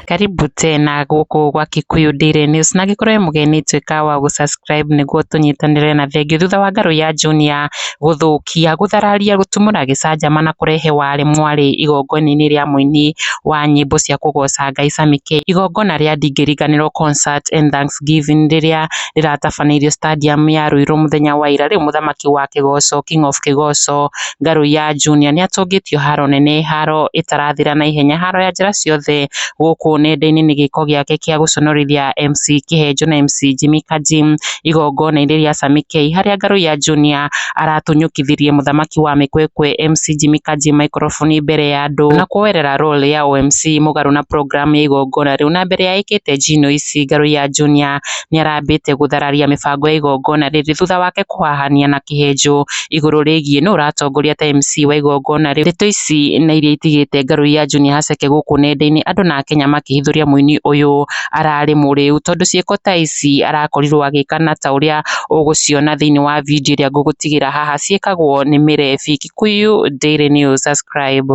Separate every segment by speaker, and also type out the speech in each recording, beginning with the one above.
Speaker 1: Karibu tena gũkũ gwa Kikuyu Daily News na angĩkorwo wĩ mũgeni tuĩka wa gũ subscribe nĩguo tũnyitanĩre na thengiũ thutha wa ngarũ ya Junior gũthũkia, gũthararia, gũtumũra gĩcanjama na kũrehe wale mwale igongona-inĩ rĩa mũini wa nyĩmbo cia kũgoca Ngai Sammy K, igongona rĩa Ndingĩriganĩrwo Concert and Thanks. Thanksgiving rĩrĩa rĩratabanĩirio stadium ya Ruiru mũthenya wa ira, rĩu mũthaki wa Kĩgoco, King of Kĩgoco, Ngarũiya Junior nĩ atũngĩtio haro nene, haro ĩtarathira na ihenya, haro ya njĩra ciothe gũkũ nenda-inĩ nĩ gĩko gĩake kĩa gũconorithia MC Kĩhenjo na MC Jimmy Kanji igongona-inĩ rĩa Sami K, harĩa Ngarũiya Junior aratunyũkithirie mũthaki wa mĩkwekwe MC Jimmy Kanji microphone mbere ya andũ na kũoerera role ya ũ MC mũgarũ na program ya igongona rĩu, na mbere ya ĩkĩte G-Noice. Kĩraati Ngarũ ya Junior nĩarambĩte gũthararia mĩbango ya igongona rĩrĩ thutha wake kũhahania na Kĩhenjũ igũrũ rĩgiĩ nũ ũratongoria ta MC wa igongona rĩu. Ndeto ici na iria itigĩte Ngarũ ya Junior haceke gũkũ nenda-inĩ andũ na Akenya makĩhithũria mũini ũyũ ararĩ mũrĩu tondũ ciĩko ta ici arakorirwo agĩka na ta ũrĩa ũgũciona thĩinĩ wa video ĩrĩa ngũgũtigĩra haha ciĩkagwo nĩ Mĩrebi. Kikuyu Daily News, subscribe.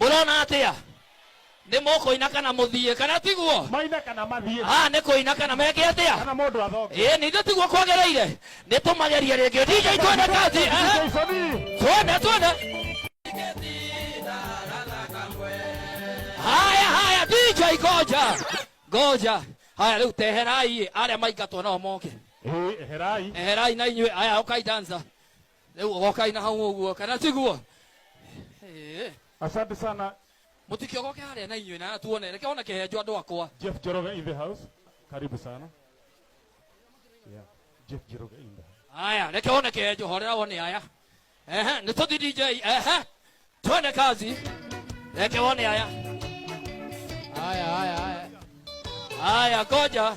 Speaker 1: mũrona atĩa nĩ mũkũina kana mũthiĩ kana tiguo maine kana mathiĩ Ah, nĩ kũina kana meke atĩa kana mũndũ athoke ĩ nithe tiguo kwagĩrĩire nĩ tũmagerie rĩngĩ dj twende kazi aha. Jaisoni, twende twende haya haya dj goja goja haya rĩu teherai arĩa maingatwo nao moke eh, eherai eherai na inyuĩ aya ũkai danza rä u ogokai na hau å guo kana tiguo Ĩĩ. Asante sana mũtikio goke harĩa na inyuĩ na tuone reke ona kĩhenjo andũ akwa Jeff Jeroga in the house. Karibu sana. Yeah. Jeff Jeroga in the house. haya reke one kĩhenjo horera one aya Ehe, nĩ tũthi dj Ehe, twende kazi reke one aya haya haya haya haya ngoja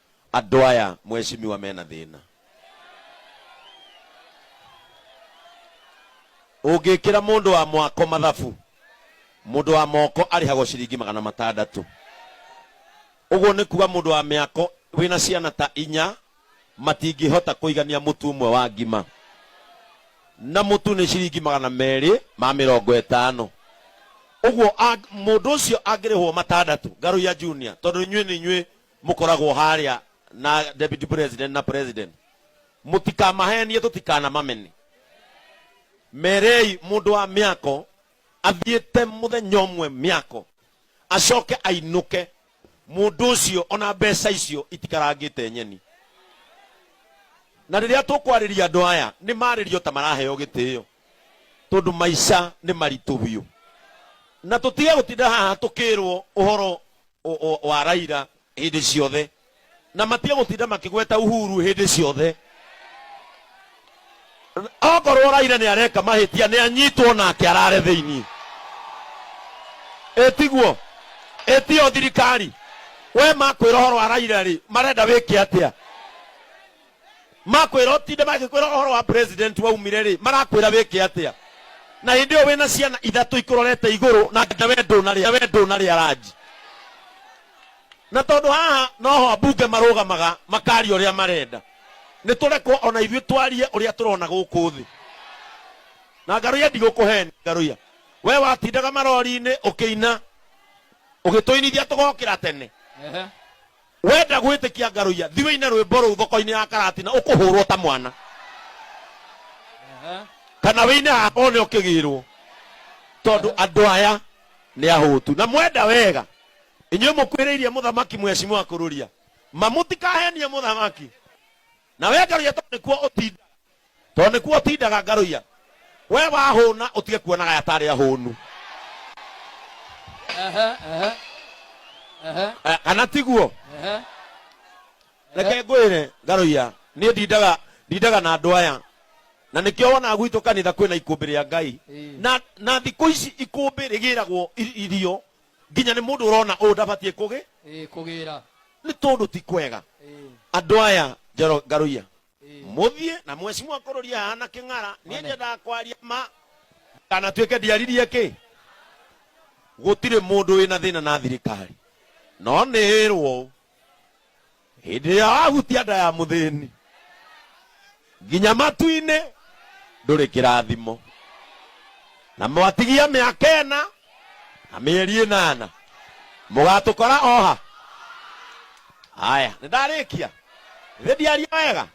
Speaker 1: Andũ aya mweshimiwa mena thĩna. Ũngĩkĩra mũndũ wa mwako mathabu, mũndũ wa moko arĩhagwo ciringi magana matandatũ. Ũguo nĩ kuga mũndũ wa mĩako wĩna ciana ta inya matingĩhota kũigania mũtu ũmwe wa ngima. Na mũtu nĩ ciringi magana merĩ ma mĩrongo ĩtano. Ũguo mũndũ ũcio angĩrĩhwo matandatũ, Ngarũiya Junior, tondũ inyuĩ nĩ inyuĩ mũkoragwo harĩa na deputy president na president mũtikamahenie tũtikanamamene merei mũndũ wa mĩako athiĩte mũthenya ũmwe mĩako acoke ainũke mũndũ ũcio ona mbeca icio itikarangĩte nyeni na rĩrĩa tũkwarĩria andũ aya nĩ marĩrio ta maraheo gĩtĩo tondũ maica nĩ maritũ biũ na tũtige gũtinda haha tũkĩrwo ũhoro o- o- wa raira hĩndĩ ciothe na matige gũtinda makĩgweta uhuru hĩndĩ ciothe okorwo raira nĩ areka mahĩtia nĩ anyitwo nake arare thĩinĩ ĩtiguo ĩtio thirikari we makwĩra ũhoro wa raira rĩ marenda wĩke atĩa makwĩra ũtinde magĩkwĩra ũhoro wa president waumire rĩ marakwĩra wĩke atĩa na hĩndĩ ĩyo wĩna ciana ithatũ ikũrorete igũrũ na nginya we ndũnarĩa we ndũnarĩa ranji na tondũ haha noho ambunge marũgamaga makaria ũrĩa marenda nĩ tũrekwo ona ithuĩ twarie ũrĩa tũrona gũkũ thĩ na ngaruya ndigũkũheni ngaruya we watindaga marori-inĩ ũkĩina ũgĩtũinithia tũgokĩra tene Ehe. Wenda gwĩtĩkia ngarũiya thi wĩine rwĩmbo rũu thoko-inĩ ya karati na ũkũhũrwo ta mwana Aha. kana wĩine haha one ũkĩgĩrwo tondũ andũ aya nĩ ahũtu na mwenda wega inyuĩ mũkuĩrĩirie mũthamaki mwecimwa kũrũria ma mũtikahenie mũthamaki na we ngarũiya tondũ nĩkuo ũtindaga tondũ nĩkuo ũtindaga ngarũiya we wahũna ũtige kuonaga aya tarĩ ahũnu Ehe, ehe. Ehe, Eh, kana tiguo ehe. reke ngwĩre ngarũiya niĩ ndindaga ndindaga na andũ aya na nĩkĩo wona gwitũ kanitha kwĩna ikũmbĩ rĩa ngai Ĩĩ. na na thikũ ici ikũmbĩ rĩgĩragwo i- irio nginya nĩ mũndũ ũrona ũũ ndabatiĩ kũgĩ ĩĩ kũgĩra nĩ tondũ ti kwega ĩĩ andå aya njoro ngarå ĩĩ mũthiĩ na mwecimu akũrũria haha na kĩng'ara niĩ Mane. nyendaga kwaria ma ndanatuĩke ndiaririe kĩ gũtirĩ mũndũ wĩna thĩna na thirikari no nĩ ĩrwo hĩndĩ ĩrĩa wahutia nda ya mũthĩni nginya matu-inĩ ndũrĩ kĩrathimo na mwatigia mĩaka ĩna na mĩeri ĩnana mũgatũkora oha haya nĩ ndarĩkia thĩ ndiaria wega